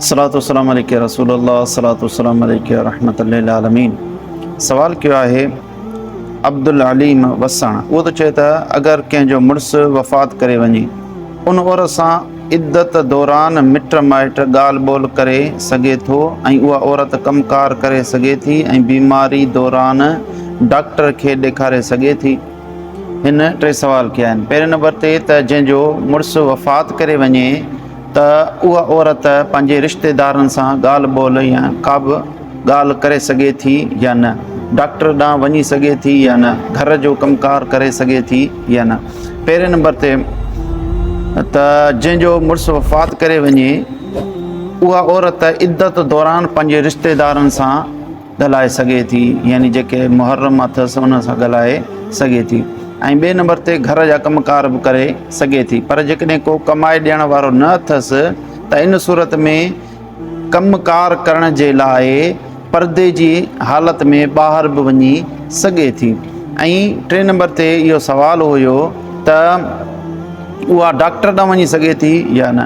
صلات و سلام عليڪ يا رسول الله صلات و سلام عليڪ يا رحمت للعالمين سوال ڪيو آهي عبدالعليم وساڻ اهو ته چئي ته اگر ڪنهن جو مڙس وفات ڪري وڃي ان عورت سان عدت دوران مٽ مائٽ ڳالهه ٻولهه ڪري سگهي ٿو ۽ اها عورت ڪم ڪار ڪري سگهي ٿي ۽ بيماري دوران ڊاڪٽر کي ڏيکاري سگهي ٿي هن ٽي سوال ڪيا آهن پهرين نمبر تي ته جنهن جو مڙس وفات ڪري وڃي ته اها عورت پنهنجي رشتيدارن سان ڳالهه ٻولهه يا ڪابه ڳالهه ڪري سگهي ٿي يا نه، ڊاڪٽر ڏانهن وڃي سگهي ٿي يا نه، گهر جو ڪم ڪار ڪري سگهي ٿي يا نه. پهرين نمبر تي ته جنهن جو مڙس وفات ڪري وڃي اها عورت عدت دوران پنهنجي رشتيدارن سان ڳالهائي سگهي ٿي يعني جيڪي محرم اٿس انهن سان ڳالهائي سگهي ٿي ۽ ٻئي نمبر تي گهر جا ڪم ڪار به ڪري سگهي ٿي پر جيڪڏهن ڪو ڪمائي ڏيڻ وارو نه اٿس ته ان صورت ۾ ڪم ڪار ڪرڻ جي لاء پردي جي حالت ۾ ٻاهر به وڃي سگهي ٿي ۽ ٽي نمبر تي اهو سوال هيو ته اها ڊاڪٽر ڏانهن وڃي سگهي ٿي يا نه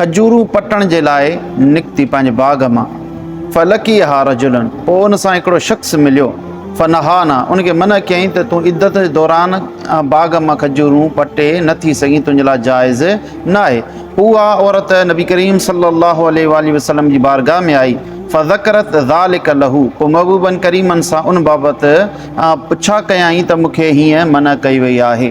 کجورون پٽڻ جي لاء نڪتي پنهنجي باغ مان فلقيها رجل پوء ان سان هڪڙو شخص مليو فنهانا ان کي منع ڪيائين ته تون عدت جي دوران باغ مان کجورون پٽي نه ٿي سگهين تنهنجي لاء جائز ناهي اها عورت نبي ڪريم صلي الله عليه واٰله وسلم جي بارگاھ ۾ آئي فذڪرت ذلک له پوء محبوبن ڪريمن سان ان بابت پڇا ڪيائين ته مون کي هيئن منع ڪئي وئي آهي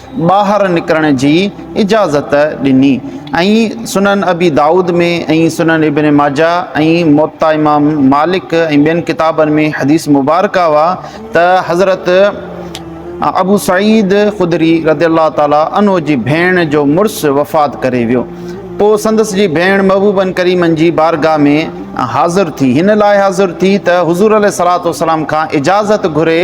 ٻاهر نڪرڻ جي اجازت ڏني ۽ سنن ابي دائود ۾ ۽ سنن ابن ماجه ۽ موطئ امام مالڪ ۽ ٻين ڪتابن ۾ حديث مبارڪه اها ته حضرت ابو سعيد خدري رضي الله تعالٰي عنه جي ڀيڻ جو مڙس وفات ڪري ويو پوء سندس جي ڀيڻ محبوبن ڪريمن جي بارگاهه ۾ حاضر ٿي هن لاء حاضر ٿي ته حضور عليه الصلوة والسلام کان اجازت گهري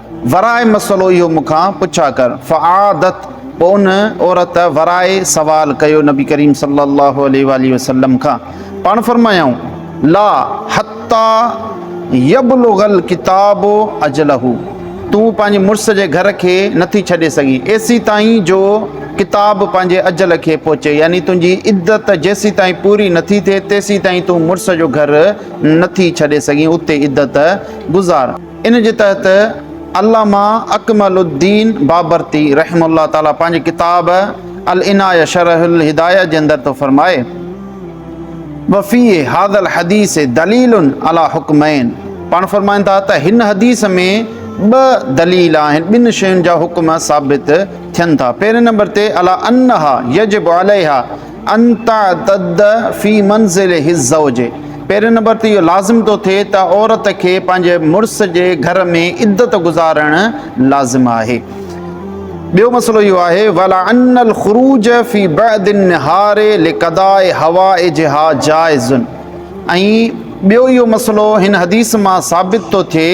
ورائي مسئلو اهو مون کان پڇا ڪر. فعادت، پوء ان عورت ورائي سوال ڪيو نبي ڪريم صلّي اللّٰه عليه واٰله وسلّم کان، پاڻ فرمايائون، لا حتّي يبلغ الڪتاب اجله، تون پنهنجي مڙس جي گهر کي نٿي ڇڏي سگهين ايسيتائين جو ڪتاب پنهنجي اجل کي پهچي يعني تنهنجي عدت جيسيتائين پوري نٿي ٿئي تيسيتائين تون مڙس جو گهر نٿي ڇڏي سگهين اتي عدت گذار. ان جي تحت علامه اڪمل الدين بابرتي رحمه الله تعالٰي پنهنجي ڪتاب العنايه شرح الهدايه جي اندر ٿو فرمائي، وفي هذا الحديث دليل علي حڪمين پاڻ فرمائن ٿا ته هن حديث ۾ ٻه دليل آهن، ٻن شين جا حڪم ثابت ٿين ٿا، پهرين نمبر تي علي انها يجب عليها ان تعتد في منزله الزوج پهرين نمبر تي اهو لازم ٿو ٿئي ته عورت کي پنهنجي مڙس جي گهر ۾ عدت گذارڻ لازم آهي. ٻيو مسئلو اهو آهي ولا ان الخروج في بعد النهار لقضاء حوائجها جائز ۽ ٻيو اهو مسئلو هن حديث مان ثابت ٿو ٿئي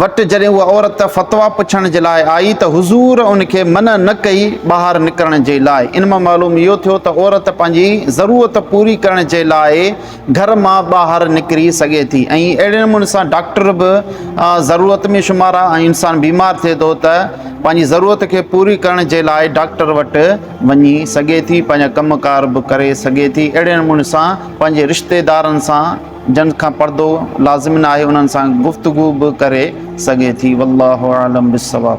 وٽ جڏهن اها عورت فتويٰ پڇڻ جي لاء آئي ته حضور ان کي منع نه ڪئي ٻاهر نڪرڻ جي لاء. ان مان معلوم اهو ٿيو ته عورت پنهنجي ضرورت پوري ڪرڻ جي لاء گهر مان ٻاهر نڪري سگهي ٿي ۽ اهڙي نموني سان ڊاڪٽر به ضرورت ۾ شمار آهي ۽ انسان بيمار ٿئي ٿو ته پنهنجي ضرورت کي پوري ڪرڻ جي لاء ڊاڪٽر وٽ وڃي سگهي ٿي پنهنجا ڪم ڪار به ڪري سگهي ٿي اهڙي نموني سان پنهنجي رشتيدارن سان جن کان پردو لازم نه آهي انهن سان گفتگو به ڪري سگهي ٿي والله اعلم بالصواب.